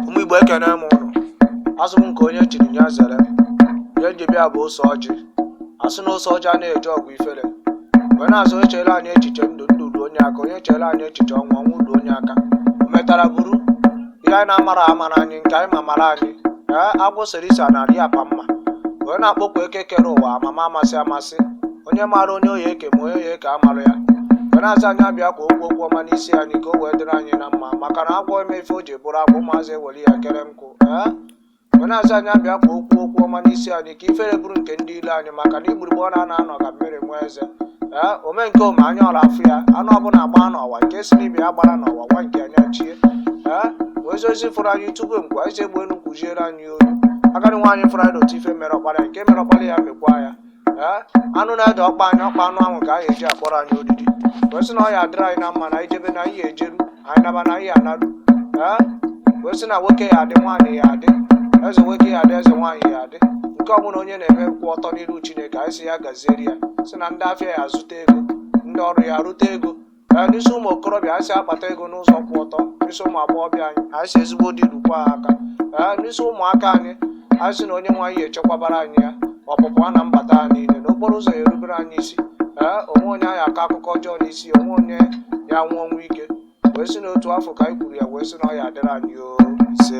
ụmụ igbo ekene m ụnụ asị m nke onye chiri ya zere ihe n ji bịa bụ ose ọjị asị na ose ọjị anaghị eje ọgwụ ifere wee na-asị onye chere anyị echiche ndụ ndụ ruo onye aka onye chere anyị echiche ọnwụ ọnwụ ruo onye aka o metara buru ihe anyị na-amara amara anyị nke anyị ma mara anyị ee agwọ sere isi anarị ya pa mma wee na-akpọku eke kere ụwa amama amasị amasị onye maara onye ọ ya eke ma onye ọ ya eke amara ya wee na-asị anyị abịa ka o kwuo okwu ọma n'isi anyị ka o wee dịrị anyị na mma maka na agwọ eme ife o ji bụrụ agwọ ụmụazị ewere ya kere nkụ ee ọ na-asị anyị abịa ka o kwuo okwu ọma n'isi anyị ka ifere bụrụ nke ndị ilo anyị maka na igburugbu ọ na-ana anọ ka mmiri nwa eze ee ome nke ome anya ọra afụ ya anụ ọbụla gbaa n'ọwa nke sị n'ibe ya agbara n'ọwa ọwa nke ya chie ee wee zozi fụrụ anyị tupu mgbe anyị si egbe enu kwuziere anyị olu agadi nwaanyị fụrụ anyị n'otu ife mere ọkpara ya nke mere ọkpara ya mekwa ya ee anụ na-ede ọkpa anyị ọkpa anụ ahụ ka a ya eji akpọrọ anyị odidi wee sị na ọ ya adịrị anyị na mma na anyị jebe na anyị ya ejeru anyị naba na anyị ya anaru ee wee sị na nwoke ya adị nwaanyị ya adị eze nwoke ya adị eze nwaanyị ya adị nke ọbụla onye na-eme kwụ ọtọ n'iru chineke anyị sị ya gazieri ya sị na ndị afịa ya azụta ego ndị ọrụ ya arụta ego ee n'isi ụmụ okorobịa anyị sị akpata ego n'ụzọ kwụ ọtọ n'isi ụmụ agbọghọbịa anyị anyị sị ezigbo di rukwa ha aka ee n'isi ụmụaka anyị anyị sị na onye nwe anyị echekwabara anyị ha ọpụpụ ha na mbata ha niile n'okporo ụzọ ya erubere anyị isi ee o nwe onye a ya akọ akụkọ ọjọọ n'isi o nwe onye ya anwụ ọnwụ ike wee sị n'otu afụ ka anyị kwuru ya wee sị na ọ ya adịrị anyị o ise